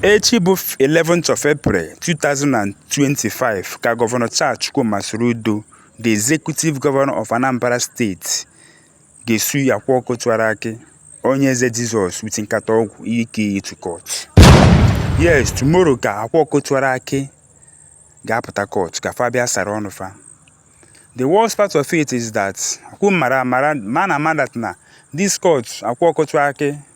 Echi bụ 11th of April 2025 ka Gọvanọ Charles Chukwuma Soludo, the Executive Governor of Anambra State, ga-esu Akwa Ọkụkọ Tiwara Akị Onyeze Jesus with nkata ọgwụ Eke Hit to court. Yes, tomorrow ka Akwa Ọkụkọ Tiwara Akị ga-apụta court ka fa bịa sara ọnụ fa. The worst part of it is that ọkwa mara amara mana mana that na this court Akwa Ọkụkọ Tiwara Akị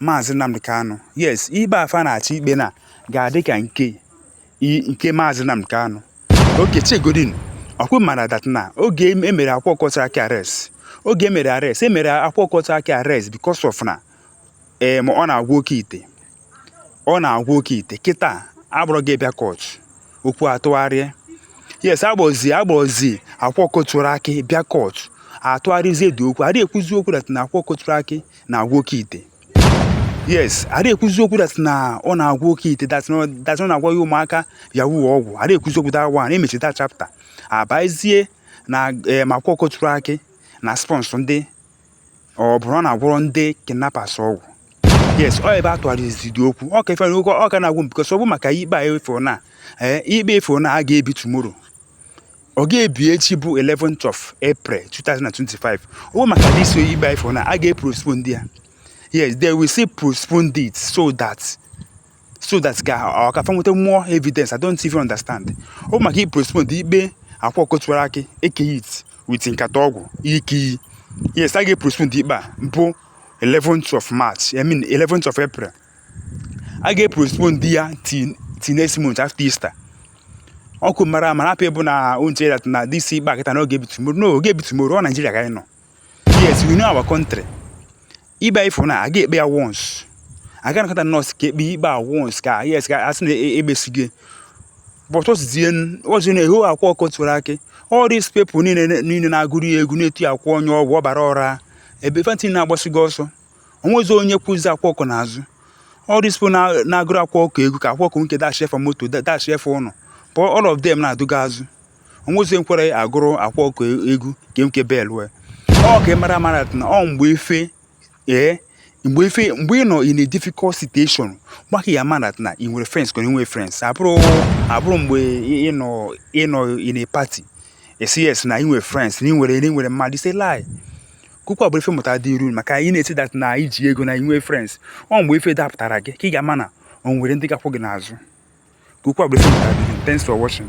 Maazị Nnamdi Kanu yes ikpe a fa na-achọ ikpe na ga-adị ka nke nke Maazị Nnamdi Kanu okay chegodin ọkwa mara that na oge emere Akwa Ọkụkọ Tiwara Akị arrest oge emere arrest emere Akwa Ọkụkọ Tiwara Akị arrest because of na ee eh, ma ọ na-agwọ oke ite ọ na-agwọ oke ite kịta a kpụrụ gị bịa court okwu atụgharịa yes a kpọzi a kpọzi Akwa Ọkụkọ Tiwara Akị bịa court atụgharịzie the okwu adịghị ekwuzi okwu that na Akwa Ọkụkọ Tiwara Akị na-agwọ oke ite yes adịghị ekwuzi okwu that na ọ na-agwọ oke ite that na ọ- that na ọ na-agwọ ya ụmụaka yahoo ọgwụ adịghị ekwuzi okwu that one emechie that chapter abazie na em Akwa Ọkụkọ Tiwara Akị na-asponsor ndị ọ bụrụ na agwọrọ ndị kidnappers ọgwụ yes ọ ebe a tụgharịzi the okwu ọ ka ife na oge ọ ka na-agwụ m because ọ bụ maka ikpe a efo na ee ikpe efo na a ga-ebi tomorrow ọ ga-ebi echi bụ 11th of April 2025 ọ bụ maka this ikpe efo na a ga-epostpone ya yes they will still postpone it so that so that ka ọ ka fa nweta more evidence i don't even understand ọ bụ maka i postpone ikpe Akwa Ọkụkọ Tiwara Akị Eke Hit with nkata ọgwụ Eke Hit yes a ga-epostpone ikpe a bụ 11th of march i mean 11th of april a ga-epostpone ya till till next month after easter ọkwa mara ama people na-eche that na this ikpe a kịta na ọ ga-ebi tomorrow no ọ gaghị ebi tomorrow ọ Nigeria ka anyị nọ yes we know our country ikpe ifo na a ga-ekpe ya once a ga-anakọta nọọsụ ka ekpe ikpe a once ka yes ka asị na ekpesigo but ọzizie ọzi na ehu Akwa Ọkụkọ Tiwara Akị all these people niile niile na-agụrụ ya egwu na-eti Akwa onye ọgwụ ọbara ọra ebe fa ncha na-agbasigo ọsọ onwezi onye kwụzi Akwa Ọkụkọ n'azụ all these people na- na-agụrụ Akwa Ọkụkọ egwu ka Akwa Ọkụkọ nke dashịe fa moto dashịe fa ụnọ but all of them na-adụga azụ onwezi nkwere agụrụ Akwa Ọkụkọ egwu nke nke bail wee ọ ka ị mara mara na ọ mgbe ife ee mgbe ife mgbe ị nọ in a difficult situation gbaka ya mara na ị nwere friends ka nwee friends ọ bụrọ ọ bụrọ mgbe ị nọ ị nọ in a party ị sị yes na ị nwere friends na ị nwere na ị nwere mmadụ is a lie kụkwa bụ ife mmụta dị iru maka ị na-asị that na ị ji ego na ị nwe friends ọ mgbe ife dapụtara gị ka ị ga-ama na o nwere ndị ga-akwụ gị n'azụ kụkwa bụ ife mmụta dị iru thanks for watching